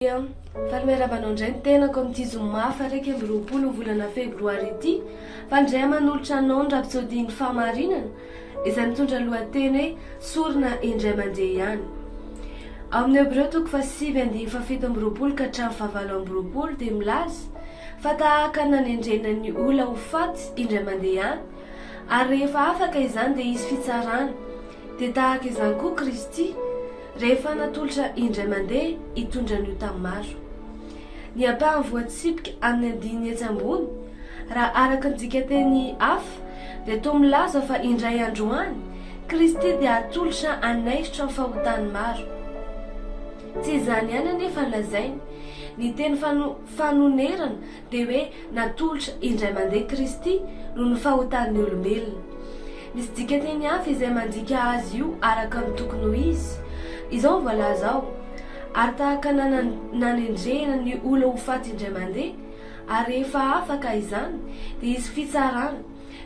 Faly miarahaba anao indray ny tenako amin'ity zoma faha iraika amby roapolo ny volana febroary ity. Faly indray manolotra anao ny rapsodian'ny fahamarinana izay mitondra ny lohateny hoe sorona indray mandeha ihany. Ao amin'ny Hebreo toko fahasivy andinin'ny fahafito amby roapolo ka hatramin'ny fahavalo amby roapolo dia milaza fa tahaka ny nanendrena ny olona ho faty indray mandeha ihany ary rehefa afaka izany dia hisy fitsarana Dia tahaka izany koa Kristy, rehefa natolotra indray mandeha hitondra ny ota maro. Ny ampahany voatsipika amin'ny andininy etsy ambony, raha araka ny dikanteny hafa, dia toa milaza fa indray andro any, Kristy dia hatolotra hanaisotra ny fahotan'ny maro. Tsy izany ihany anefa no lazainy. Ny teny fanonerana dia hoe natolotra indray mandeha Kristy noho ny fahotan'ny olombelona. Misy dikanteny hafa izay mandika azy io araka ny tokony ho izy. Izao no voalaza ao, Ary tahaka ny nanendrehina ny ola ho faty indray mandeha, ary rehefa afaka izany, dia hisy fitsarana,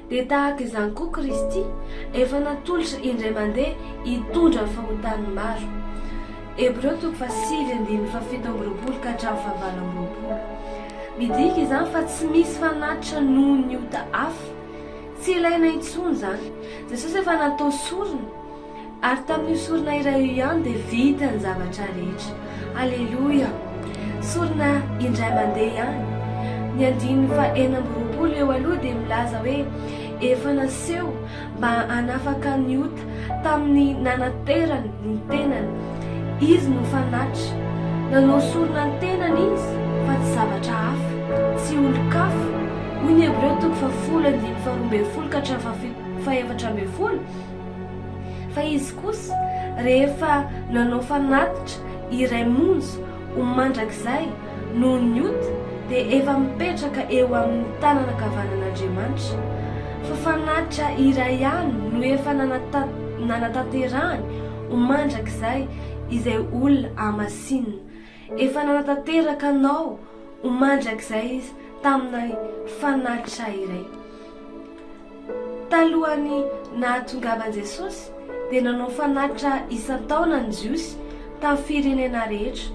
Dia tahaka izany koa Kristy efa natolotra indray mandeha hitondra ny fahotan'ny maro. Hebreo toko fahasivy andininy fahafito amby roapolo ka hatramin'ny fahavalo amby roapolo. Midika izany fa tsy misy fanatitra noho ny ota hafa. Tsy ilaina intsony izany. Jesosy efa natao sorona. Ary tamin'io sorona iray io ihany dia vita ny zavatra rehetra. Aleloia! Sorona indray mandeha ihany. Ny andininy fahenina amby roapolo eo aloha dia milaza hoe, Efa naseho mba hanafaka ny ota tamin'ny nanaterany ny tenany. Izy no fanatitra. Nanao sorona ny tenany Izy, fa tsy zavatra hafa. Tsy olon-kafa. Hoy ny Hebreo toko fahafolo andininy faharoa ambin'ny folo ka hatramin'ny fahafito, fahefatra ambin'ny folo, Fa izy kosa rehefa nanao fanatitra iray monja ho mandrakizay noho ny ota dia efa mipetraka eo amin'ny tanana ankavanan'Andriamanitra. Fa fanatitra iray ihany no efa nanatanterahany ho mandrakizay izay olona hamasinina. Efa nanatanteraka anao ho mandrakizay Izy tamin'ny fanatitra iray. Talohan'ny nahatongavan'i Jesosy, dia nanao fanatitra isan-taona ny Jiosy tamin'ny firenena rehetra.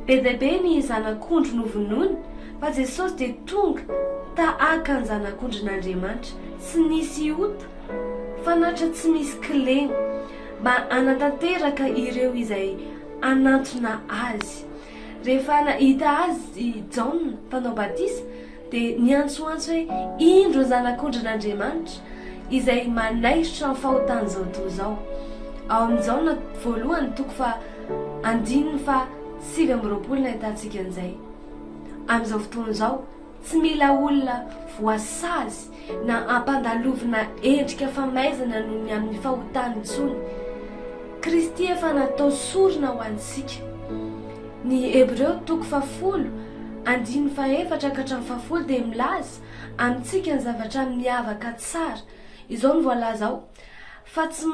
Be dia be ny zanak'ondry novonoina, fa Jesosy dia tonga tahaka ny Zanak'ondrin'Andriamanitra, tsy nisy ota, fanatitra tsy misy kilema, mba hanatanteraka ireo izay hanantona Azy. Rehefa nahita Azy i Jaona Mpanao Batisa, dia niantsoantso hoe, Indro ny Zanak'ondrin'Andriamanitra, izay manaisotra amin'ny fahotan'izao toa izao. Ao amin'ny Jaona voalohany toko faha andininy faha sivy amby roapolo no ahitantsika an'izay. Amin'izao fotoana izao, tsy mila olona voasazy na ampandalovina endrika famaizana noho ny amin'ny fahotany intsony. Kristy efa natao sorona ho antsika. Ny Hebreo toko fahafolo andininy fahefatra ka hatramin'ny fahafolo dia milaza amintsika ny zavatra miavaka tsara. Izao no voalaza ao. Fa tsy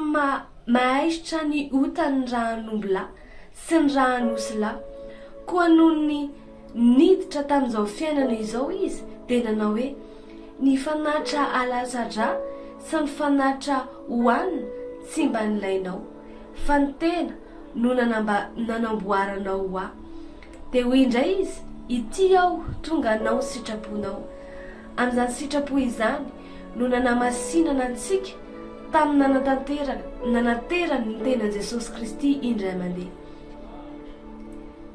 mahaisotra ny ota ny rahanombilahy sy ny rahanosilahy. Koa nony niditra tamin'izao fiainana izao izy, dia nanao hoe, Ny fanatitra alasa-dra sy ny fanatitra hohanina tsy mba nilainao, fa ny tena no nanamboaranao ho ahy. Dia hoy indray izy, Ity aho, tonga hanao ny sitraponao. Amin'izany sitrapo izany no nanamasinana antsika tamin'ny nanatanteraka, nanaterany ny tenan'i Jesosy Kristy indray mandeha.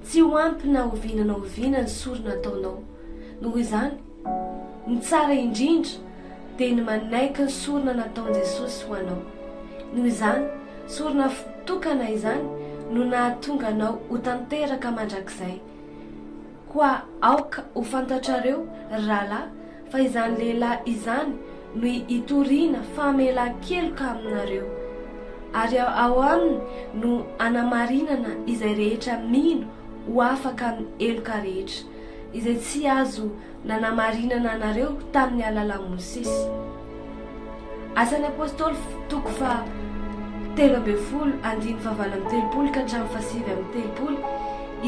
Tsy ho ampy na oviana na oviana ny sorona ataonao. Noho izany, ny tsara indrindra dia ny manaiky ny sorona nataon'i Jesosy ho anao. Noho izany, sorona tokana izany no nahatonga anao ho tanteraka mandrakizay. Koa aoka ho fantatrareo, ry rahalahy, fa izany lehilahy izany no hitoriana famelan-keloka aminareo, ary ao aminy no hanamarinana izay rehetra mino ho afaka amin'ny heloka rehetra, izay tsy azo nanamarinana anareo tamin'ny alalan'i Mosesy. Asan'ny Apôstôly toko faha telo ambin'ny folo andininy faha valo amby telopolo ka hatramin'ny faha sivy amby telopolo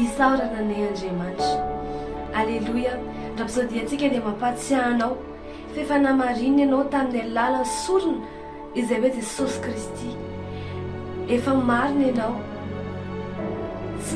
Isaorana anay Andriamanitra Aleloia Rapsodiantsika dia mampahatsiahy anao f'efa namarininy anao tamin'ny alalan'ny sorona izay hoe Jesosy Kristy Efa marina ianao Tsy